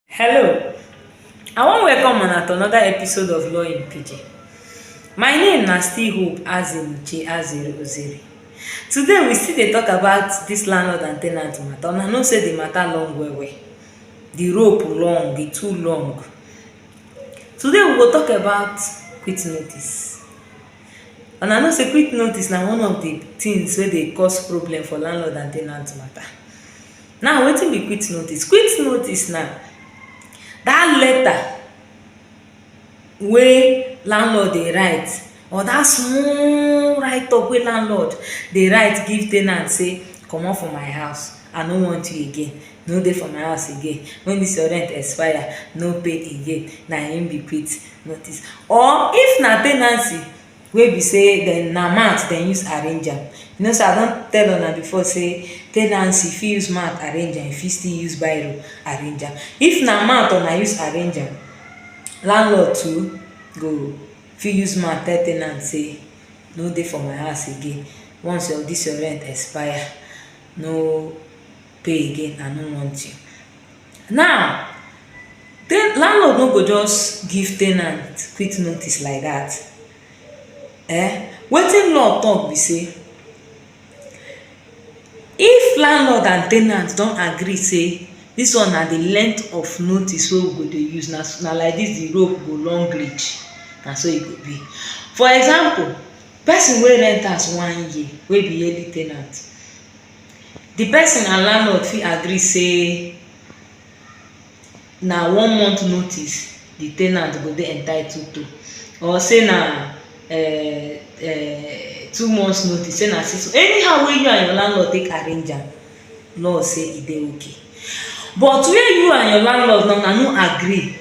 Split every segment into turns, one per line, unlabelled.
Hello, I wan welcome una to another episode of Law in Pidgin. My name na still Hope Azimuche Azere Ozere. Today we still dey talk about this landlord and ten ant matter. Una know say the matter long well well. The rope long, e too long. Today we go talk about quit notice. Una know say quit notice na one of the things wey dey cause problem for landlord and ten ant matter. Now wetin be quit notice? Quit notice na dat letter wey landlord dey write or dat small write up wey landlord dey write give ten ant sey comot for my house I no want you again, no dey for my house again, wen dis your rent expire no pay again na im be quit notice or if na ten ancy wey be sey dem na mat dem use arrange am. You know sey I don tell una before sey tenancy fit use mat arrange am, e fit still use biro arrange am. If na mat una use arrange am, landlord too go fit use mat tell ten ant sey no dey for my house again, once your dis your rent expire no pay again I no want you. Now, landlord no go just give ten ant quick notice like dat um wetin law talk be sey if landlord and ten ant don agree sey dis one na de length of notice wey we go dey use na so na like dis de rope go long reach na so e go be. For example, person wey rent house one year wey be yearly ten ant Di person and landlord fit agree sey na one month notice di ten ant go dey entitled to or sey na um two months notice, sey na six months, anyhow wey you and your landlord take arrange am, law sey e dey okay. But where you and your landlord now una no agree,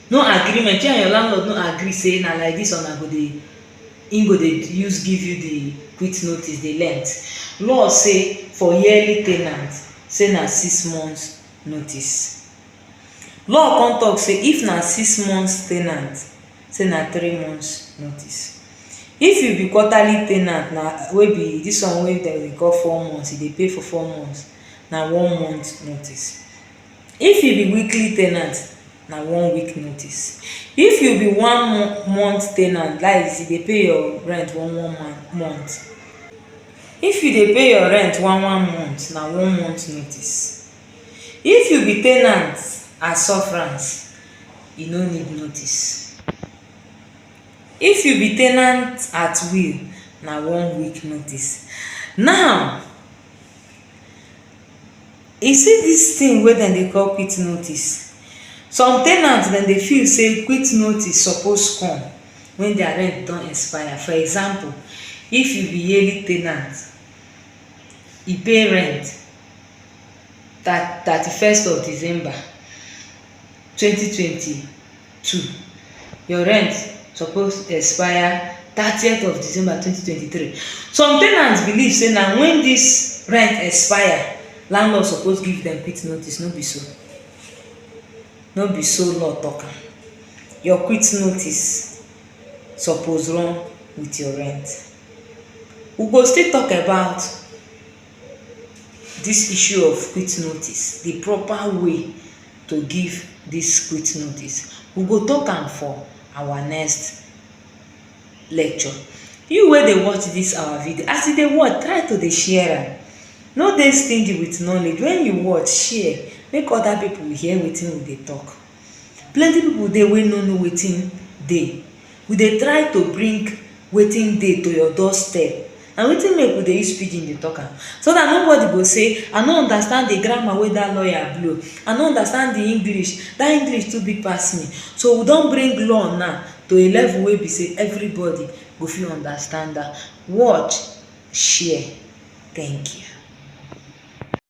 no agreement, you and your landlord no agree sey na like dis una go dey Im go dey use give you di quit notice, di length. Law say for yearly tenant say na six months notice. Law come talk say if na six months tenant say na three months notice. If you be quarterly tenant na wey be dis one wey dem dey call four months, you dey pay for four months, na one month notice. If you be weekly tenant, na one week notice. If you be one month ten ant dat is you dey pay your rent one one month, if you dey pay your rent one one month na one month notice. If you be ten ant and sufferance you no need notice. If you be ten ant at will na one week notice. Now E see dis thing wey dem dey call quit notice. Some ten ant dem dey feel sey quit notice suppose come when their rent don expire. For example, if you be yearly ten ant, you pay rent thirty first of December twenty twenty two your rent suppose expire thirtieth of December twenty twenty three some ten ants believe say na when this rent expire landlord suppose give them quit notice no be so no be so law talk am your quit notice suppose run with your rent we go still talk about Dis issue of quit notice, di proper way to give dis quit notice, we go tok am for our next lecture. You wey dey watch dis our video, as you dey watch, try to dey share am. No dey stingy with knowledge. Wen you watch, share, make other pipu hear wetin we dey tok. Plenty people dey wey no know wetin dey we dey try to bring wetin dey to your door step na wetin make we dey use pidgin dey talk am so that nobody go say I no understand the grammar wey that lawyer blow I no understand the English that English too big pass me so we don bring law now to a level wey be say everybody go fit understand am watch share thank you.